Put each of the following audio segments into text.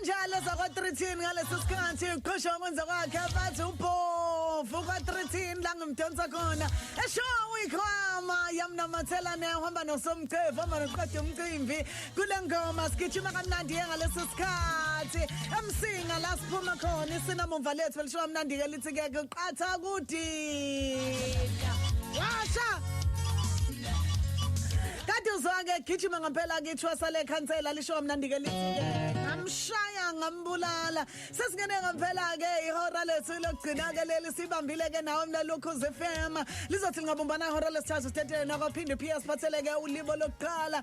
kanjalo zakwa-13 ngalesi sikhathi uqhosha wakwenza kwakhe bathi ubhovu kwa-13 la ngimdonsa khona eshow ikhwama yamnamathela nehamba nosomcevu hamba noqeda umcimbi kule ngoma sigijima kamnandi ye ngalesi sikhathi emsinga la siphuma khona isinamumva lethu elishiwa mnandi-ke Nsi ke kuqatha ukuthi washa Kade uzonge gijima ngempela kithwa sale khansela lisho kamnandi ke lithi ngamshaya ngambulala sesingene ngempela ke ihora lethu lokugcina ke leli sibambile ke nawe mina lokhu zefema lizothi lingabumbana ihora lesithathu stetele nakwaphinde PS batheleke ulibo lokuqala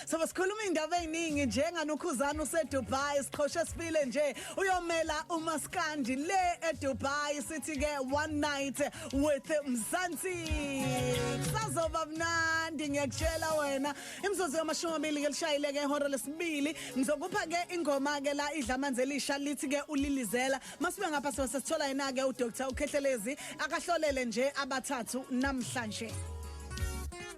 Sobe sikhuluma indaba eziningi njengani ukhuzana useDubai siqhoshe sifile nje uyomela umaskandi le eDubai sithi ke one night with Mzansi sazoba mnandi ngiyakutshela wena imzuzu yamashumi amabili ke lishayile ke ihora lesibili ngizokupha ke ingoma ke la idla amanzi elisha lithi ke ulilizela masibe ngapha sibe sesithola yena ke uDr uKhehlelezi akahlolele nje abathathu namhlanje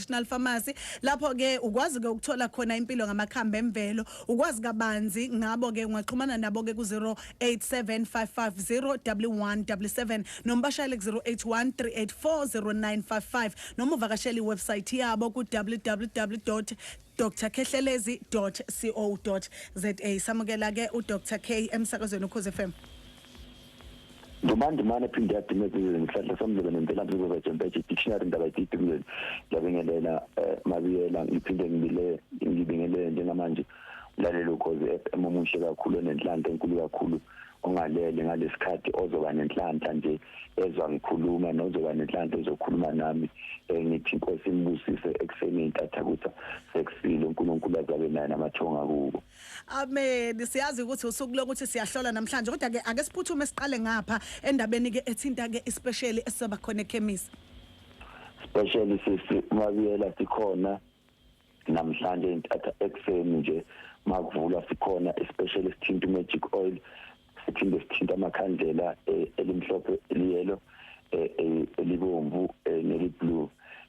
National Pharmacy lapho ke ukwazi ke ukuthola khona impilo ngamakhambi emvelo ukwazi kabanzi ngabo ke ungaxhumana nabo ke ku 0875501177 noma bashayele ku 0813840955 noma uvakashela iwebsite yabo ku www drkhehlelezi.co.za samukela ke uDr K emsakazweni ukhoze FM ndumandumane phinde yadumeza izwe ngihlahla somlebe nemvelaphi zizovejempeje dictionary ndaba ididumleni ngiyabingelela um mabiyela ngiphinde ngibile ngibingelele njengamanje mlaleli ukhozi f m omuhle kakhulu onenhlanhla enkulu kakhulu ungalele ngalesikhathi ozoba nenhlanhla nje ezwa ngikhuluma nozoba nenhlanhla ezokhuluma nami eh, ngithi inkosi imbusise ekuseni intatha kusa sekusile uNkulunkulu azabe naye namathonga kubo Amen. Siyazi ukuthi usuku lokuthi siyahlola namhlanje kodwa ke ake siphuthume siqale ngapha endabeni ke ethinta ke especially esizoba khona ekhemisi. Especially sisi mabiyela sikhona namhlanje intatha ekseni nje makuvula sikhona especially sithinta magic oil siphinde sithinta amakhandlela eh, elimhlophe eliyelo eh, eh, elibomvu neliblue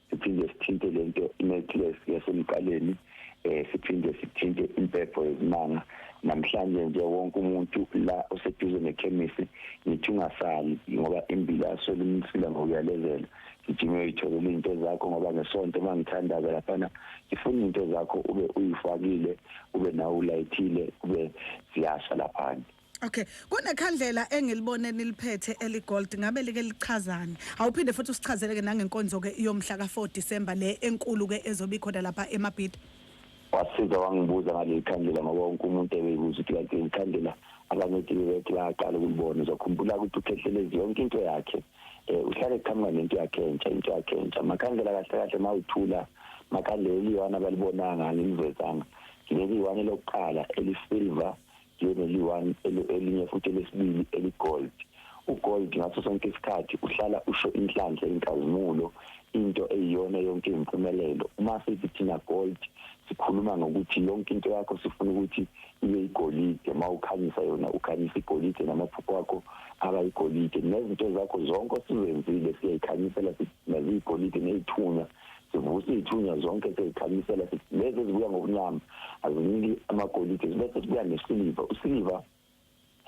siphinde sithinte lento necklace yasemqaleni eh siphinde sithinte impepho yezimanga namhlanje nje wonke umuntu la oseduze nekhemisi ngithi ungasali ngoba imbila asolimsila ngokuyalezela ngijima uyoyitholela izinto zakho ngoba ngesonto uma ngithandaza laphana ngifuna izinto zakho ube uyifakile ube nawe ulayithile ube ziyasha laphana Okay, kunekhandlela engilibone niliphethe eligold ngabe like lichazani. Awuphinde futhi usichazele ke nangenkonzo ke yomhla ka4 December le enkulu ke ezobi khona lapha eMabhida. Wasiza wangibuza ngaleli khandlela ngoba wonke umuntu ebeyibuza ukuthi kanti ikhandlela abangethile bethi bayaqala ukulibona uzokhumbula ukuthi ukhehlelezi yonke into yakhe eh uhlale qhamuka nento yakhe entsha into yakhe entsha makhandlela kahle kahle mawuthula makhandlela eliyona balibonanga ngilivezanga leli one lokuqala elisilver liyona liwani elinye futhi lesibili eligold ugold ngaso sonke isikhathi uhlala usho inhlanhla inkazimulo into eyiyona yonke impumelelo uma sithi thina gold sikhuluma ngokuthi yonke into yakho sifuna ukuthi ibe igolide uma ukhanyisa yona ukhanyisa igolide namaphupho akho aba igolide nezinto zakho zonke osizenzile siyayikhanyisela naziyigolide neyithunya sivuse iy'thunywa zonke sezikhanyisela lezi ezibuya ngokunyama aziniki amagolide zibese sibuya nesiliva usiliva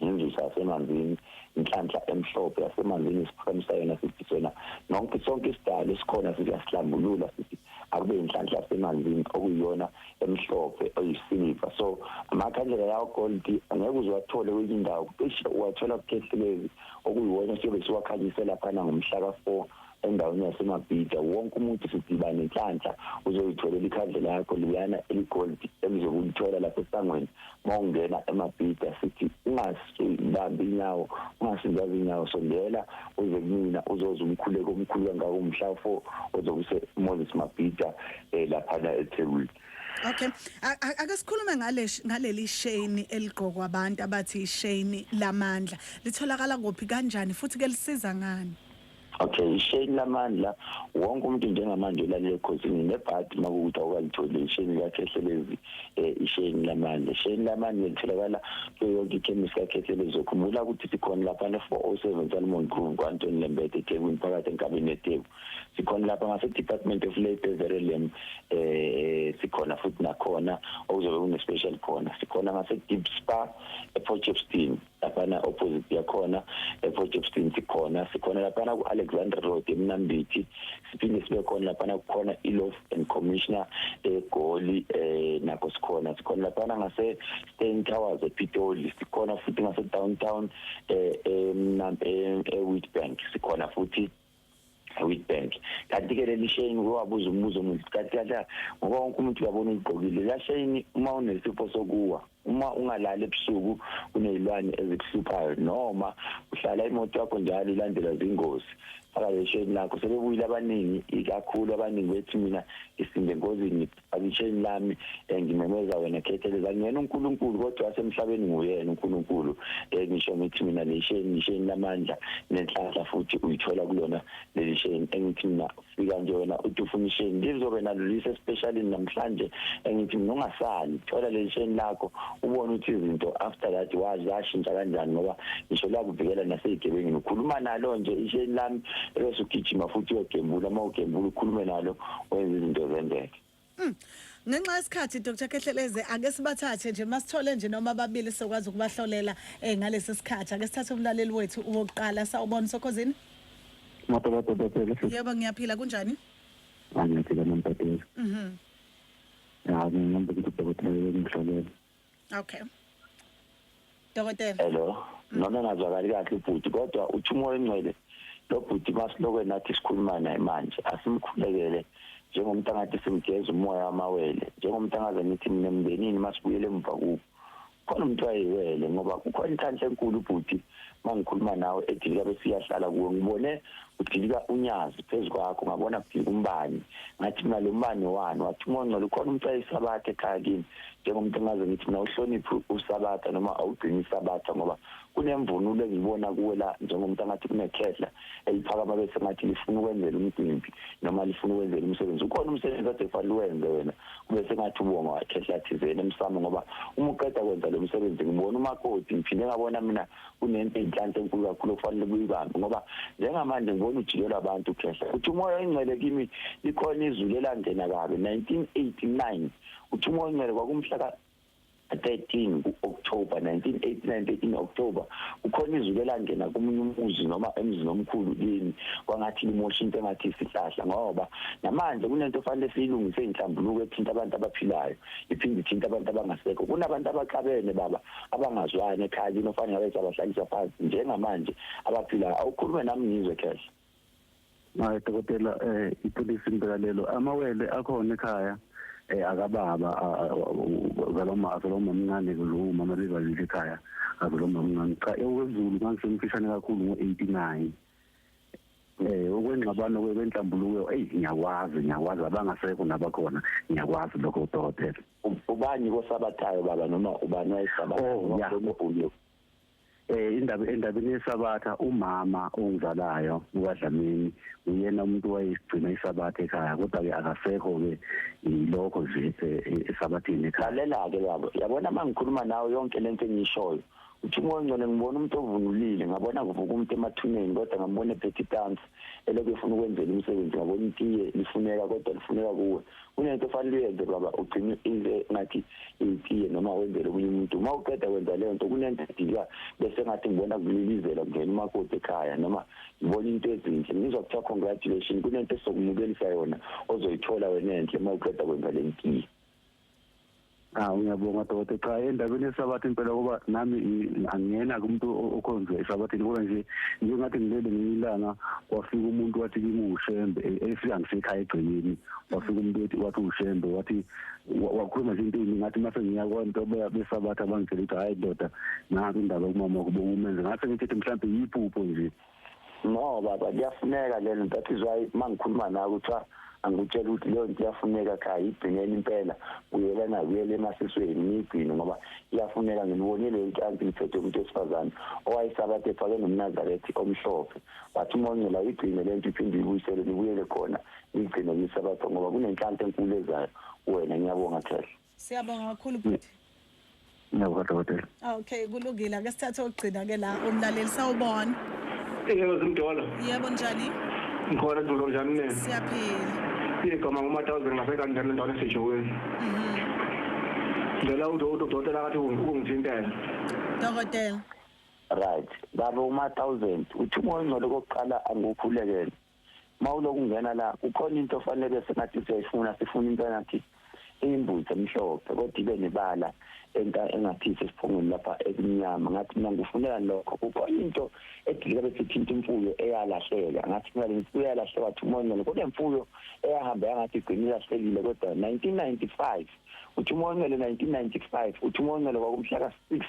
ngenzusa yasemanzini inhlanhla emhlophe yasemanzini isiphakamo sayona sithi sona nonke sonke isidalo esikhona siyahlambulula sithi akube inhlanhla yasemanzini okuyiyona emhlophe oyisiliva so amakhandlela yawo gold angeke uziwathole kwenye indawo cishe uwathola kukhehlekelezi okuyiwona siyobe siwakhanyisela phana ngomhla ka-four endaweni yaseMabhida wonke umuntu sidiba nenhlanhla uzoyitholela ikhandlela yakho liyana eligoldi elizokulithola lapha esangweni uma ungena eMabhida sithi ungasibambi inyawo ungasizazi inyawo sondela uze kumina uzoze umkhuleko omkhulu kangaka umhla fo ozokuse Moses Mabhida eh, laphana eThekwini Okay. Ake sikhulume ngale ngaleli shame eligqokwa abantu abathi ishame lamandla. Litholakala kuphi kanjani futhi ke lisiza ngani? okay isheni lamandla wonke umuntu njengamanje ulalele ekhosini nebhadi makukuthi awukalitholi isheni lakhehlelezi eh, isheni lamandla isheni lamandla litholakala kuyo yonke ikhemisi kakhehlelezi ukhumbula ukuthi sikhona lapha ne-407 salomon groove ku-antoni lembede ethekwini phakathi enkabeni yetheku sikhona lapha ngase-department of labour everelem eh sikhona futhi nakhona okuzobe kune-special khona sikhona ngase-deep spa eport chepstein laphana opposite yakhona ePort Shepstone sikhona sikhona laphana ku-alexander road emnambithi siphinde sibe khona laphana kukhona ilof and commissioner egoli um eh, nakho sikhona sikhona laphana ngase-stain towers epitoli sikhona futhi ngase-downtown um eh, eh, ewitbank sikhona futhi Witbank kanti ke leli shame wabuza umbuzo omuhle kanti kanti ngoba wonke umuntu uyabona uyigqokile la shame uma unesifo sokuwa uma ungalali ebusuku kunezilwane ezikuhluphayo noma uhlala imoto yakho njalo ilandela zingozi faka lesheni lakho sebebuyile abaningi ikakhulu abaningi bethi mina isinde ngozini Abisheni lami eh, ngimemeza wena khetheleza ngiyena uNkulunkulu kodwa wasemhlabeni nguyena uNkulunkulu eh, ngisho ngithi mina lesheni ngisheni lamandla nenhlanhla futhi uyithola kulona leli sheni engithi mina fika nje wena uthi ufuna isheni lizobe nalulisa especially namhlanje engithi mina ungasali thola leli sheni lakho ubone ukuthi izinto after that wazi zashintsha kanjani ngoba ngisho lakuvikela nasezigebengini ukhuluma nalo nje isheni lami ebese ugijima futhi uyogembula uma ugembula ukhulume nalo wenza izinto zenzeke hmm. ngenxa yesikhathi Dr Kehleleze ake sibathathe nje masithole nje noma ababili sokwazi ukubahlolela eh, ngalesi sikhathi ake sithathe umlaleli wethu wokuqala sawubona sokhozini Mababa Dokotela Yebo ngiyaphila kunjani Ngiyaphila mababa Mhm Hayi ngihamba ukuthi Dokotela ngihlolela okay dokotela hello noma ngazwakali kahle ubhuti kodwa uthi umoya ongcwele lo bhuti masilokwe nathi sikhuluma naye manje asimkhulekele njengomuntu angathi simgeza umoya wamawele njengomuntu angaze ngithi mina mndenini masibuyele emva kubo khona umuntu wayiwele ngoba kukhona inhlanhla enkulu ubhuti mangikhuluma nawe edilika bese iyahlala kuwe ngibone udilika unyazi phezu kwakho ngabona kudilika umbani ngathi mina lo mbani wani wathi uma ongcela ukhona umcela isabatha ekhaya kimi njengomuntu engaze ngithi mina uhloniphi usabatha noma awugcini isabatha ngoba kunemvunulo engiyibona kuwe la njengomuntu angathi kunekhehla eliphakama bese ngathi lifuna ukwenzela umcimbi noma lifuna ukwenzela umsebenzi ukhona umsebenzi ade kufanele uwenze wena kube sengathi ubonga wakhe ehlathizeni emsamo ngoba uma uqeda kwenza lo msebenzi ngibona umakoti ngiphinde ngabona mina kunento enhlanhla enkulu kakhulu okufanele kuyibambe ngoba njengamanje ngibona ujikelwa abantu khehla uthi umoya oyingcele kimi likhona izulu elangena kabi 1989 uthi umoya oyingcele kwakumhla 13 ku-October 1989 13 October kukhona izulu elangena komunye umuzi noma emzini omkhulu kini kwangathi limosha into engathi isihlahla ngoba namanje kunento ofanele siyilungise inhlambuluko ethinta abantu abaphilayo iphinde ithinta abantu abangasekho kunabantu abaxabene baba abangazwani ekhaya kini ofanele ngabe sabahlalisa phansi njengamanje abaphilayo awukhulume nami ngizwe khehla Hayi dokotela eh ipolice imbekalelo amawele akhona ekhaya eh akababa zaloma zaloma mncane kulo mama lezalile ekhaya azaloma mncane cha ewezulu manje semfishane kakhulu ngo89 eh okwengxabano kwenhlambuluko hey ngiyakwazi ngiyakwazi abangasekho nabakhona ngiyakwazi lokho dokotela ubani kosabathayo baba noma ubani wayesabathayo oh, ngombulo eh indaba endabeni yesabatha umama ongizalayo ukaDlamini uyena umuntu wayesigcina isabatha ekhaya kodwa ke akasekho ke ilokho nje esabathini eh, ekhaya lalela ke yabo yabona mangikhuluma nawe yonke lento engishoyo uthi umoya ngcwele ngibona umuntu ovunulile ngabona kuvuka umuntu emathuneni kodwa ngambona ephethe itansi elokhu efuna ukwenzela umsebenzi ngoba unitiye lifuneka kodwa lifuneka kuwe kunento ofanele uyenze baba ugcine into ngathi itiye noma wenzele omunye umuntu uma uqeda kwenza leyo nto kunento edilwa bese ngathi ngibona kulilizela kungena umakoti ekhaya noma ngibona into ezinhle ngizwa kuthiwa congratulation kunento esokumukelisa yona ozoyithola wena enhle uma uqeda kwenza le ntiye Ah ngiyabonga dokotela cha endabeni yesabatha impela kuba nami angiyena kumuntu okhonza esabathini kodwa nje njengathi ngilele ngiyilanga wafika umuntu wathi kimi ushembe e, efika ngisekhaya egcekeni wafika umuntu wathi wathi ushembe wathi wakhuluma nje into eyiningi ngathi mase ngiya kwanto besabatha bangitshela ukuthi hhayi ndoda nansi indaba kumama kubo umenze ngase ngithethe mhlawumbe yiphupho nje no baba kuyafuneka lelo that is why mangikhuluma nawe kuthiwa angikutshela ukuthi leyo nto iyafuneka cha yigcineni impela uyelana uyele emasisweni niyigcine ngoba iyafuneka ngilibone leyo nto anti ngiphethe umuntu wesifazane owayesabathe efake nomnazarethi omhlophe wathi uma ongcela uyigcine le nto iphinde uyibuyisele nibuyele khona niyigcine kuyisabatha ngoba kunenhlanhla enkulu ezayo wena ngiyabonga khehla Siyabonga kakhulu bhuti. Ngiyabonga dokotela. Ah, okay, kulungile. Ake sithathe ogcina ke la umlaleli sawubona. Yebo zimdolo. Yebo njani? Ngikhona dulo njani mina? Siyaphila. Igama nguma 1000 ngasekanjani endaweni esejoweni. Mhm. Ngicela udokotela kathi ungithintela. Dokotela. Right. Baba uma 1000 uthi umoya ongcwele kokuqala angikhulekele. mawuloku ungena la kukhona into ofanele sengathi siyayifuna sifuna into engathi imbuzi emhlophe kodwa ibe nebala enta engathi sesiphongweni lapha ekumnyama ngathi mina ngifunela lokho kukhona into edilika bese ithinta imfuyo eyalahleka ngathi mina imfuyo eyalahleka thumonela kodwa imfuyo eyahamba yangathi igcina ilahlekile kodwa 1995 uthi umonqele 1995 uthi umonqele kwakumhla ka 6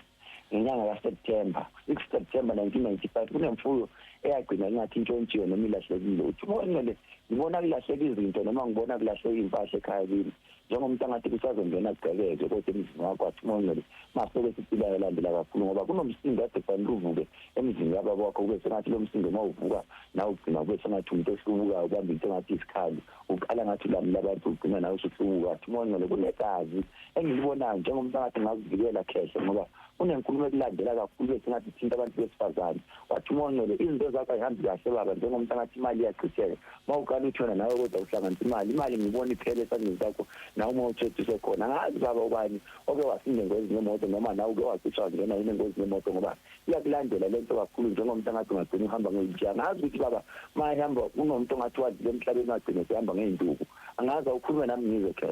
ngenyanga kaSeptember 6 September 1995 kunemfuyo eyagcina ingathi intshontshiwe noma ilahlekile uthi uNgcwele ngibona kulahleka izinto noma ngibona kulahleka impahla ekhaya kimi njengomuntu angathi kusazongena kugqekeke kodwa emzini wakho athi uNgcwele maseke siphila yalandela kakhulu ngoba kunomsindo kade kufanele uvuke emzini kababa wakho kube sengathi lo msindo uma uvuka nawe ugcina kube sengathi umuntu ohlubukayo ubamba into engathi isikhali uqala ngathi ulamula abantu ugcina nawe usuhlubuka athi umoya ongcwele kunegazi engilibonayo njengomntangathi ngazivikela khehla ngoba kunenkulumo ekulandela kakhulu bese ngathi thinta abantu besifazane wathi umoya ongcwele izinto zakho ayihambi kahle baba njengomntangathi imali iyachitheka uma uqala uthona nawe kodwa uhlanganisa imali imali ngibona iphele esandleni sakho nawe uma uthethise khona ngazi baba ubani oke wasinda engozini yemoto noma nawe uke wacishwa ngena yini engozini yemoto ngoba iyakulandela lento kakhulu njengomuntu angathi ungagcina uhamba ngewheelchair angazi ukuthi baba mayihamba unomuntu ongathi wadlula emhlabeni wagcina sehamba ngey'nduku angazi awukhulume nami ngizwe khe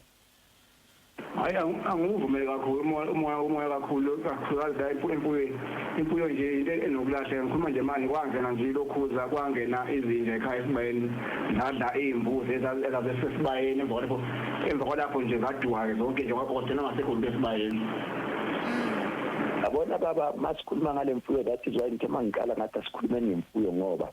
hayi angiwuvumeli kakhulu umoya umoya kakhulu kakhulukazi la empuyweni impuyo nje into enokulahleka ngikhuluma nje manje kwangena nje lokhuza kwangena izinja ekhaya esibayeni zadla iy'mbuzi ezazesesibayeni emva kwalapho nje zaduwa-ke zonke nje kwagcina ngasekho into esibayeni yabona baba masikhuluma ngale mfuyo that is why ngithe mangiqala ngathi asikhulume ngemfuyo ngoba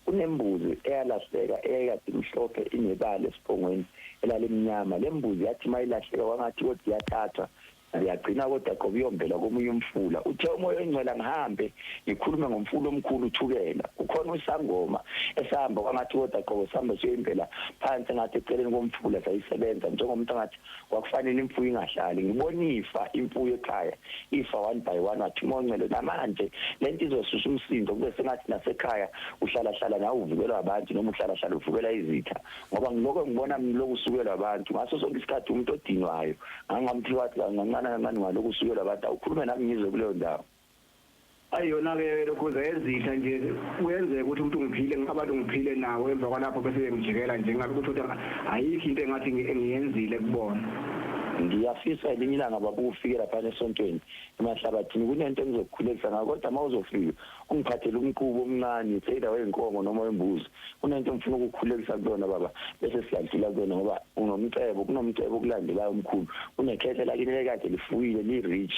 kunembuzi eyalahleka eyayikade imhlophe inebala esiphongweni elalimnyama le mbuzi yathi uma ilahleka kwangathi kodwa iyathathwa ngiyagcina kodwa qoba uyombela komunye umfula uthe umoya oyingcwela ngihambe ngikhulume ngomfula omkhulu uthukela ukhona usangoma esahamba kwangathi kodwa qobo sihambe siyoyimbela phansi ngathi eceleni komfula sayisebenza njengomuntu angathi kwakufanele imfuyo ingahlali ngibona ifa imfuyo ekhaya ifa one by one wathi moncele namanje lento izosusa umsindo kube sengathi nasekhaya uhlala hlala nawe uvukelwa abantu noma uhlala hlala uvukelwa izitha ngoba ngiloko ngibona ngiloko usukelwa abantu ngaso sonke isikhathi umuntu odinwayo ngangamthi wathi kancane kancane ngaloko usukelwa abantu awukhulume nami ngizwe kuleyo ndawo Ayi yona ke lokhuza yezitha nje kuyenzeka ukuthi umuntu ngiphile abantu ngiphile nawo emva kwalapho bese bengijikela nje ngabe ukuthi uthi ayikho into engathi ngiyenzile kubona. Ngiyafisa elinye ilanga baba ufike lapha esontweni emahlabathini kunento engizokukhulekisa ngayo kodwa uma uzofika ungiphathele umqubu omncane it's either weynkomo noma wembuzi kunento ngifuna ukukukhulekisa kuyona baba bese siyadlula kuyona ngoba unomcebo kunomcebo okulandelayo omkhulu kunekhehla lakini lekade lifuyile li-rich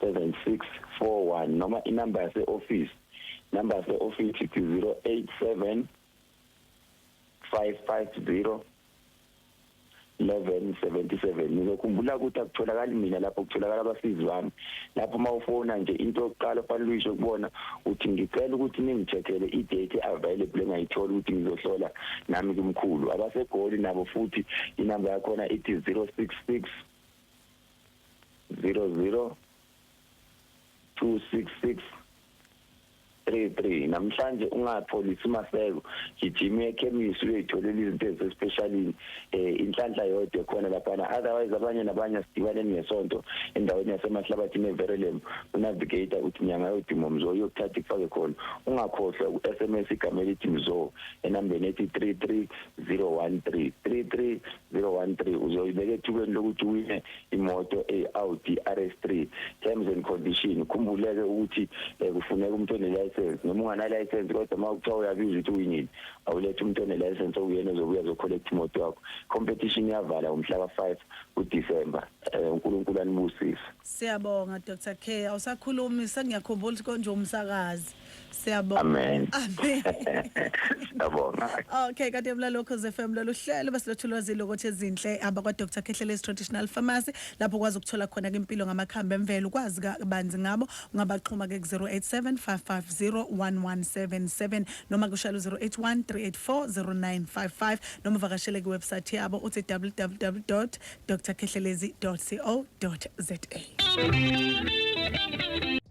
7641 noma inamba yase-ofisi namba yase-ofisi ithi 087 550 1177 nizokhumbula ukuthi akutholakali mina lapho kutholakala abasizi bami lapho uma ufona nje into yokuqala ofanele uyisho kubona uthi ngicela ukuthi ningithethele i-date available engayitholi ukuthi ngizohlola nami kumkhulu abasegoli nabo futhi inamba yakhona ithi 066 00 266 33 namhlanje ungapholisi maseko gijima ekhemisi uyoyitholela izinto ezisespecialini eh inhlanhla yodwa khona lapha otherwise abanye nabanye sidibane ngesonto endaweni yasemahlabathi neverelem unavigator uthi nyanga yodimo mzo uyokuthatha ifake khona ungakhohlwa uSMS igama elithi mzo enambeni ethi 33013 33 013 uzoyibeka ethubeni lokuthi uwine imoto e-Audi RS3 terms and condition khumbuleke ukuthi eh, kufuneka umuntu onelicense noma unganalicense kodwa uma kuthiwa uyabiza ukuthi uwinile awulethe umuntu onelicense okuyena ozobuya zocollect imoto yakho competition iyavala ngomhla ka-5 kuDecember eh, uNkulunkulu anibusise siyabonga Dr K awusakhulumi sengiyakhumbula ukuthi konje umsakazi Siyabonga. Amen. Amen. Siyabonga. Okay, kade mlalo Khoze FM lolu hlelo besilethu lwazi lokuthi ezinhle abakwa Dr Khehlelezi Traditional Pharmacy lapho kwazi ukuthola khona impilo ngamakhambi emvelo ukwazi kabanzi ngabo ungabaxhuma ke ku 0875501177 noma kushaya 0813840955 noma vakashele ku website yabo uthi www.drkhehlelezi.co.za